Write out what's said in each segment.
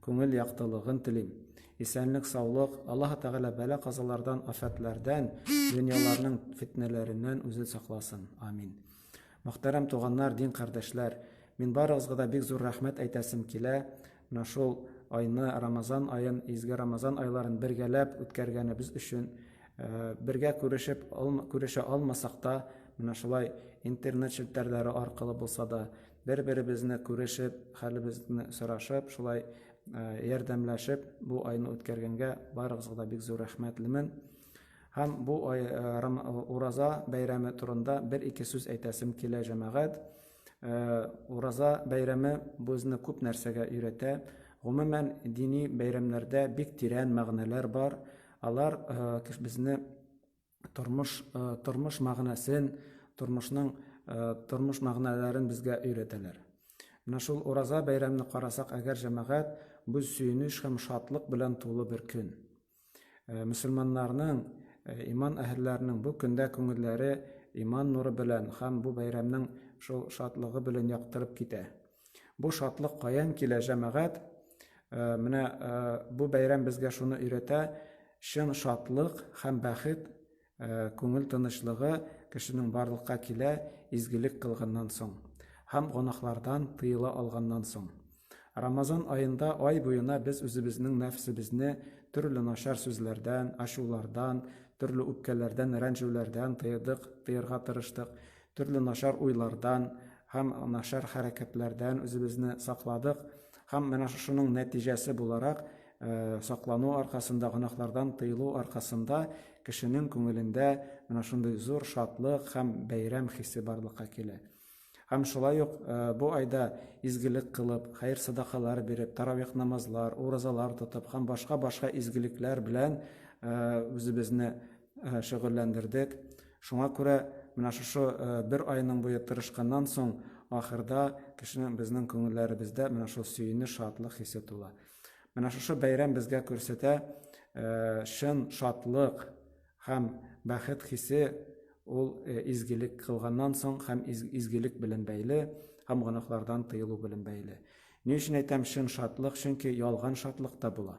Күңел яктылыгын телим. Исәнлек саулык, Аллаһы Тәгалә бәла казалардан афәтләрдән, дөньяларның фетнәләреннән үзен сакласын. Амин. Мөхтәрәм туганнар, дин кардәшләр, мин барыгызга да бик зур рәхмәт әйтәсем килә, менә шул айны, Рамазан аен, изге Рамазан айларын бергәләп үткәргәнебез өчен. Бергә күрешеп, күрешә алмасак та, менә шулай интернет челтәрләре аркылы булса да, Бер-беребезне күрешеп, хәлебезне сорашып, шулай ярдәмләшеп бу айны үткәргәнгә барыгызга да бик зур рәхмәтлемен. Һәм бу ай ураза бәйрәме турында бер-ике сүз әйтәсем килә, җәмәгать. Ураза бәйрәме безне күп нәрсәгә өйрәтә. Гомумән, дини бәйрәмнәрдә бик тирән мәгънәләр бар. Алар безне тормыш тормыш мәгънәсен тормышның тормыш мәгънәләрен безгә өйрәтәләр менә шул ураза бәйрәмне карасак әгәр җәмәгать бу сөенеч һәм шатлык белән тулы бер көн мөселманнарның иман әһелләренең бу көндә күңелләре иман нуры белән һәм бу бәйрәмнең шул шатлыгы белән яктырып китә Бу шатлык каян килә, җәмәгать? Э, менә э, бу бәйрәм безгә шуны өйрәтә, чын шатлык һәм бәхет, э, күңел тынычлыгы кешенең барлыкка килә изгелек кылганнан соң һәм гонахлардан тыела алганнан соң. Рамазан аенда ай буена без үзебезнең нәфсебезне төрле начар сүзләрдән, ачулардан, төрле үпкәләрдән, рәнҗүләрдән тыйдык, тыйырга тырыштык. Төрле начар уйлардан һәм начар хәрәкәтләрдән үзебезне сакладык һәм менә шушының нәтиҗәсе буларак, саклану аркасында, гөнаһлардан тыелу аркасында кешенең күңелендә менә шундый зур шатлык һәм бәйрәм хисе барлыкка килә. Һәм шулай ук бу айда изгелек кылып, хәер-садакалар биреп, таравих намазлар, уразалар тотып һәм башка-башка изгелекләр белән үзебезне шөгыльләндердек. Шуңа күрә менә шушы бер айның буе тырышканнан соң, ахырда кешенең, безнең күңелләребездә менә шул сөенеч, шатлык хисе тула. Менә шушы бәйрәм безгә күрсәтә, чын шатлык һәм бәхет хисе ул изгелек кылганнан соң һәм изгелек белән бәйле, һәм гөнаһлардан тыелу белән бәйле. Ни өчен әйтәм чын шатлык? Чөнки ялган шатлык та була.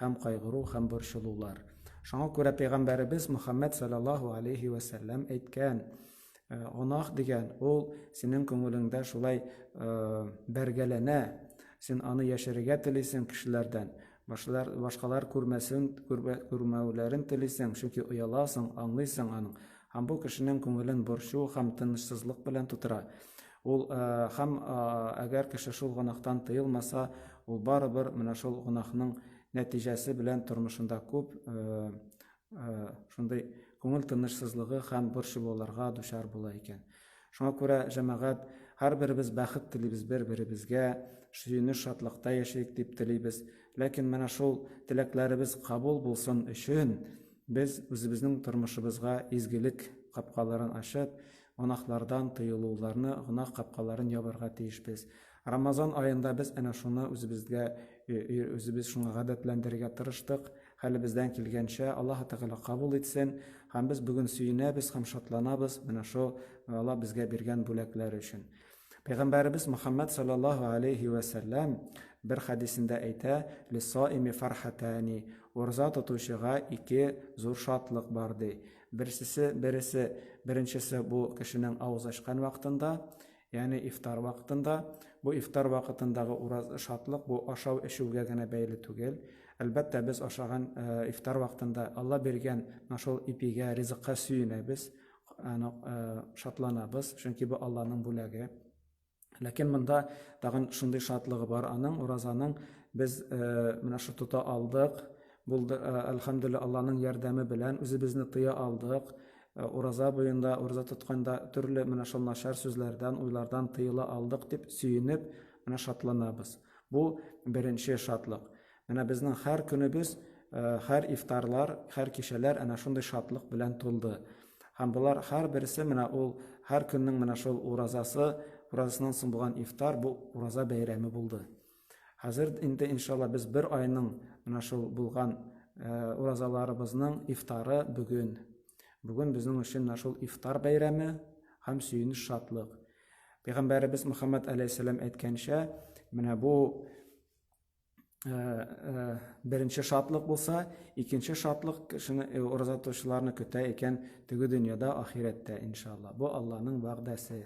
һәм кайгыру һәм борчылулар. Шуңа күрә пәйгамбәребез Мөхәммәд саллаллаһу алейһи вә сәлләм әйткән, э, гөнаһ дигән ул синең күңелеңдә шулай э, бәргәләнә, син аны яшерергә телисең кешеләрдән, башлар, башкалар күрмәсен, күрмәүләрен телисең, чөнки ояласың, аңлыйсың аның. Һәм бу кешенең күңелен борчу һәм тынычсызлык белән тутыра. Ул һәм әгәр кеше шул гөнаһтан тыелмаса, ул барыбер менә шул гөнаһның нәтиҗәсе белән тормышында күп шундый күңел тынычсызлыгы һәм борчылуларга дучар була икән. Шуңа күрә, җәмәгать, һәрберебез бәхет телибез бер-беребезгә, сөенеч шатлыкта яшәик дип телибез. Ләкин менә шул теләкләребез кабул булсын өчен, без үзебезнең тормышыбызга изгелек капкаларын ачып, Гөнаһлардан тыелуларны, гөнаһ капкаларын ябарга тиешбез. Рамазан аенда без әнә шуны үзебезгә, үзебез шуңа гадәтләндерергә тырыштык. Хәлебездән килгәнчә, Аллаһы Тәгалә кабул итсен. Һәм без бүген сөенәбез һәм шатланабыз менә шул Алла безгә биргән бүләкләр өчен. Пәйгамбәребез Мөхәммәд салләллаһу галәйһи вә сәлләм бер хәдисендә әйтә, Лиссаими фархатәни, ураза тотучыга ике зур шатлык бар, ди. Берсесе, бересе, беренчесе бу кешенең авыз ачкан вакытында, ягъни ифтар вакытында. Бу ифтар вакытындагы ураз шатлык бу ашау-эчүгә генә бәйле түгел. Әлбәттә, без ашаган ифтар вакытында Алла биргән менә шул ипигә, ризыкка сөенәбез. Аны шатланабыз, чөнки бу Алланың бүләге. Ләкин монда тагын шундый шатлыгы бар аның, уразаның без менә шу тота алдык, булды, әлхәмдүлилла Алланың ярдәме белән үзебезне тыя алдык. Ураза буенда, ураза тотканда төрле менә шул начар сүзләрдән, уйлардан тыела алдык дип сөенеп, менә шатланабыз. Бу беренче шатлык. Менә безнең һәр көнебез, э, һәр ифтарлар, һәр кичәләр әнә шундый шатлык белән тулды. Һәм болар һәрберсе менә ул һәр көннең менә шул уразасы, уразасыннан соң булган ифтар бу ураза бәйрәме булды. Хәзер инде иншалла без бер айның менә шул булган э, уразаларыбызның ифтары бүген. Бүген безнең өчен менә шул ифтар бәйрәме һәм сөенеч шатлык. Пәйгамбәребез Мөхәммәд алейһиссәлам әйткәнчә, менә бу беренче шатлык булса, икенче шатлык кешене ураза тотучыларны көтә икән теге дөньяда, ахирәттә, иншалла. Бу Алланың вәгъдәсе.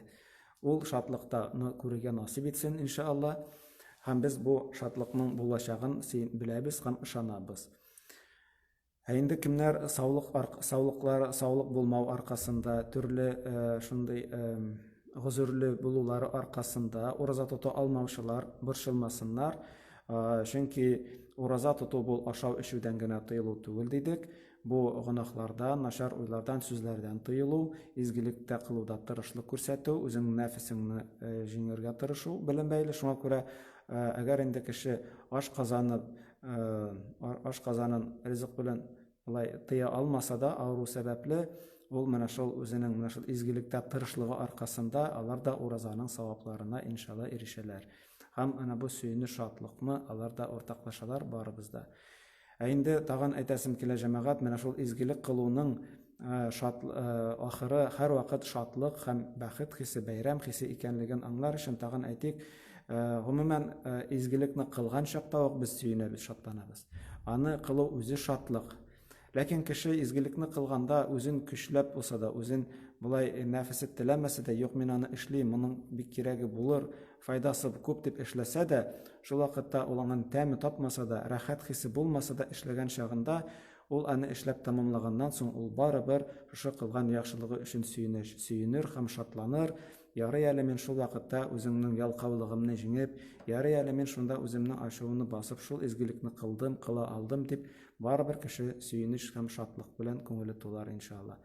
Ул шатлыктаны күрергә насыйп итсен, иншалла. Һәм без бу шатлыкның булачагын беләбез һәм ышанабыз. Ә инде кемнәр саулык саулыклар саулык булмау аркасында, төрле шундый гозерле булулары аркасында ураза тота алмаучылар борчылмасыннар, чөнки ураза тоту бу ашау эчүдән генә тыелу түгел дидек, бу гөнаһлардан, начар уйлардан, сүзләрдән тыелу, изгелек тә кылуда тырышлык күрсәтү, үзеңнең нәфесеңне җиңәргә тырышу белән бәйле. Шуңа күрә әгәр инде кеше аш казанып, ашказанын ризык белән алай тыя алмаса да авыру сәбәпле ул менә шул үзенең менә шул изгелектә тырышлыгы аркасында алар да уразаның савапларына иншалла ирешәләр һәм ана бу сөенер шатлыкны алар да уртаклашалар барыбыз да ә инде тагын әйтәсем килә җәмәгать менә шул изгелек кылуның шат ахыры һәрвакыт шатлык һәм бәхет хисе бәйрәм хисе икәнлеген аңлар өчен тагын әйтик Гомумән, изгелекне кылган чакта ук без сөенәбез, шатланабыз. Аны кылу үзе шатлык. Ләкин кеше изгелекне кылганда үзен көчләп булса да, үзен болай нәфесе теләмәсә дә, юк, мин аны эшлим, моның бик кирәге булыр, файдасы күп дип эшләсә дә, шул вакытта ул аңын тәме тапмаса да, рәхәт хисе булмаса да, эшләгән чагында, ул аны эшләп тәмамлаганнан соң, ул барыбер шушы кылган яхшылыгы өчен сөенер һәм шатланыр, Ярый әле мин шул вакытта үземнең ялкаулыгымны җиңеп, ярый әле мин шунда үземнең ачуымны басып шул изгелекне кылдым, кыла алдым дип, барыбер кеше сөенеч һәм шатлык белән күңеле тулар, иншалла.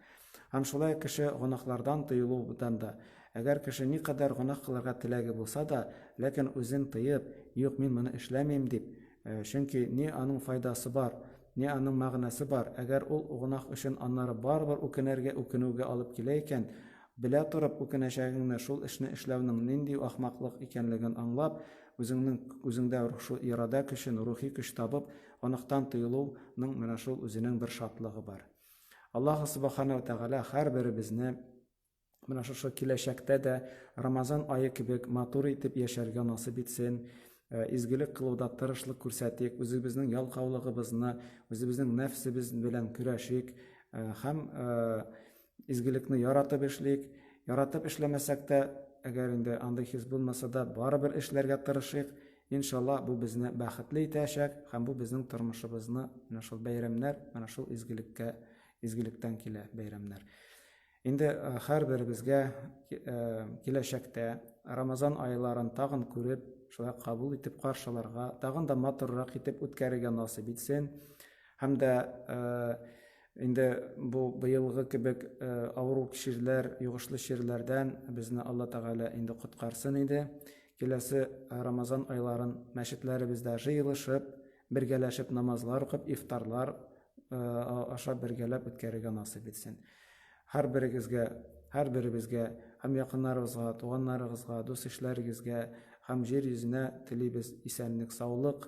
Һәм шулай кеше гөнаһлардан тыелудан да, әгәр кеше никадәр гөнаһ кылырга теләге булса да, ләкин үзен тыеп, юк, мин моны эшләмим дип, э, чөнки ни аның файдасы бар, ни аның мәгънәсе бар, әгәр ул гөнаһ өчен аннары барыбер үкенергә, үкенүгә алып килә икән, Белә торып үкенәчәгеңне, шул эшне эшләүнең нинди ахмаклык икәнлеген аңлап, үзеңнең үзеңдә шул ирада көчен, рухи көч табып, оныктан тыелу ның менә шул үзенең бер шатлыгы бар. Аллаһу Субахана ва Тәгалә һәрберебезне менә шушы киләчәктә дә Рамазан ае кебек матур итеп яшәргә насыйп итсен, э, изгелек кылуда тырышлык күрсәтик, үзебезнең ялкаулыгыбызны, үзебезнең нәфсебез белән көрәшик э, һәм э, Изгелекне яратып эшлик. Яратып эшләмәсәк тә, әгәр инде андый хис булмаса да, барыбер эшләргә тырышыйк. Иншалла, бу безне бәхетле итәчәк һәм бу безнең тормышыбызны менә шул бәйрәмнәр, менә шул изгелеккә, изгелектән килә бәйрәмнәр. Инде һәрберебезгә киләчәктә Рамазан айларын тагын күреп, шулай кабул итеп каршыларга, тагын да матуррак итеп үткәрергә насыйп итсен. Һәм дә Инде бу быелгы кебек авыру чирләр, йогышлы чирләрдән безне Алла Тәгалә инде коткарсын иде. Киләсе Рамазан айларын мәчетләребездә җыелышып, бергәләшеп намазлар укып, ифтарлар ашап бергәләп үткәрергә насыйп итсен. Һәрберегезгә, һәрберебезгә һәм якыннарыбызга, туганнарыгызга, дус-ишләрегезгә һәм җир йөзенә телибез исәнлек-саулык,